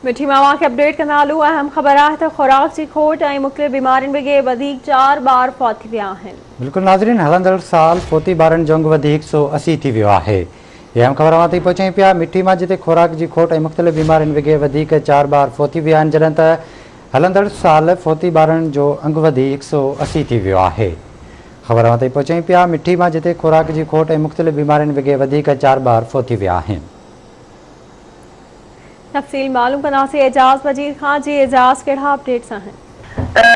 مٺي مان اوهان کي اپڊيٽ ڪندا هلون اهم خبر آهي ته خوراڪ جي کوٽ ۽ مختلف بيمارين وگي وڌيڪ چار ٻار فوت ٿي ويا آهن. بلڪل ناظرين هلندڙ سال فوتي ٻارن جونگ وڌي هڪ سو اسي ٿي ويو آهي اهي اهم خبر اوهان تائين پهچائين پيا مٺي مان جتي خوراڪ جي کوٽ ۽ مختلف بيمارين وگي وڌيڪ چار ٻار فوت ٿي ويا آهن جڏهن ته هلندڙ سال فوتي ٻارن جو انگ وڌي هڪ سو اسي ٿي ويو آهي خبر اوهان تائين پهچائين پيا مٺي مان جتي خوراڪ جي کوٽ ۽ مختلف بيمارين وگي وڌيڪ چار ٻار فوت ٿي ويا آهن. تفصيل معلوم ڪنداسين اعجاز وزير کان جي اعجاز ڪهڙا اپڊيٽس آهن.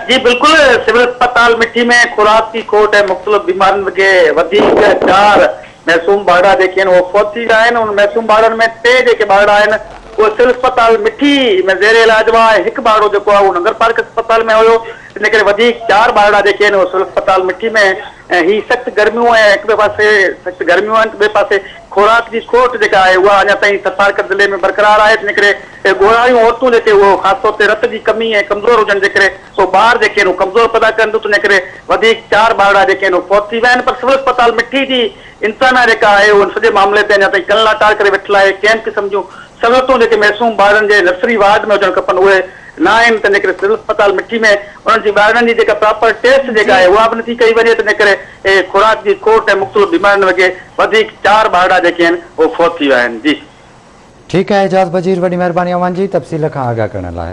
جي بلڪل سول اسپتال مٺي ۾ خوراڪ جي کوٽ ۽ مختلف بيمارين وگي وڌيڪ چار معصوم ٻارڙا جيڪي آهن اهي فوت ٿي ويا آهن انهن معصوم ٻارڙن ۾ ٽي جيڪي ٻارڙا آهن اهي سول اسپتال مٺي ۾ زير علاج هئا ۽ هڪ ٻارڙو جيڪو آهي اهو نگرپارڪ اسپتال ۾ هيو ان ڪري وڌيڪ چار ٻارڙا جيڪي آهن اهي سول اسپتال مٺي ۾ هي سخت گرميون ۽ هڪ ٻئي پاسي سخت گرميون آهن ته ٻئي پاسي خوراڪ جي کوٽ جيڪا آهي اها اڃا تائين ٿٿارڪر ضلعي ۾ برقرار آهي جنهن ڪري ڳوڙهاريون عورتون جيڪي اهو خاص طور تي رت جي ڪمي ۽ ڪمزور هجڻ جي ڪري اهو ٻار جيڪي آهن اهو ڪمزور پيدا ڪرن ٿيون تنهنجي ڪري وڌيڪ چار ٻارڙا جيڪي آهن اهو فوت ٿي ويا آهن پر سول اسپتال مٺي جي انتظاميا جيڪا آهي اهو ان سڄي معاملي تي اڃا تائين ڪن لاٽار ڪري ويٺل آهي ڪنهن قسم جون سهولتون جيڪي معصوم ٻارڙن جي نرسري وارڊ ۾ هجڻ کپن اهي نه آهن تنهنجي ڪري سول اسپتال مٺي ۾ انهن جي ٻارڙن جي جيڪا پراپر ٽيسٽ جيڪا آهي اها به نٿي ڪئي وڃي تنهنجي ڪري اهي خوراڪ جي کوٽ ۽ مختلف بيمارين وگي وڌيڪ چار ٻارڙا جيڪي آهن اهي فوت ٿي ويا آهن جي. ٺيڪ آهي اعجاز وزير وڏي مهرباني اوهان جي تفصيل کان آگاهه ڪرڻ لاء.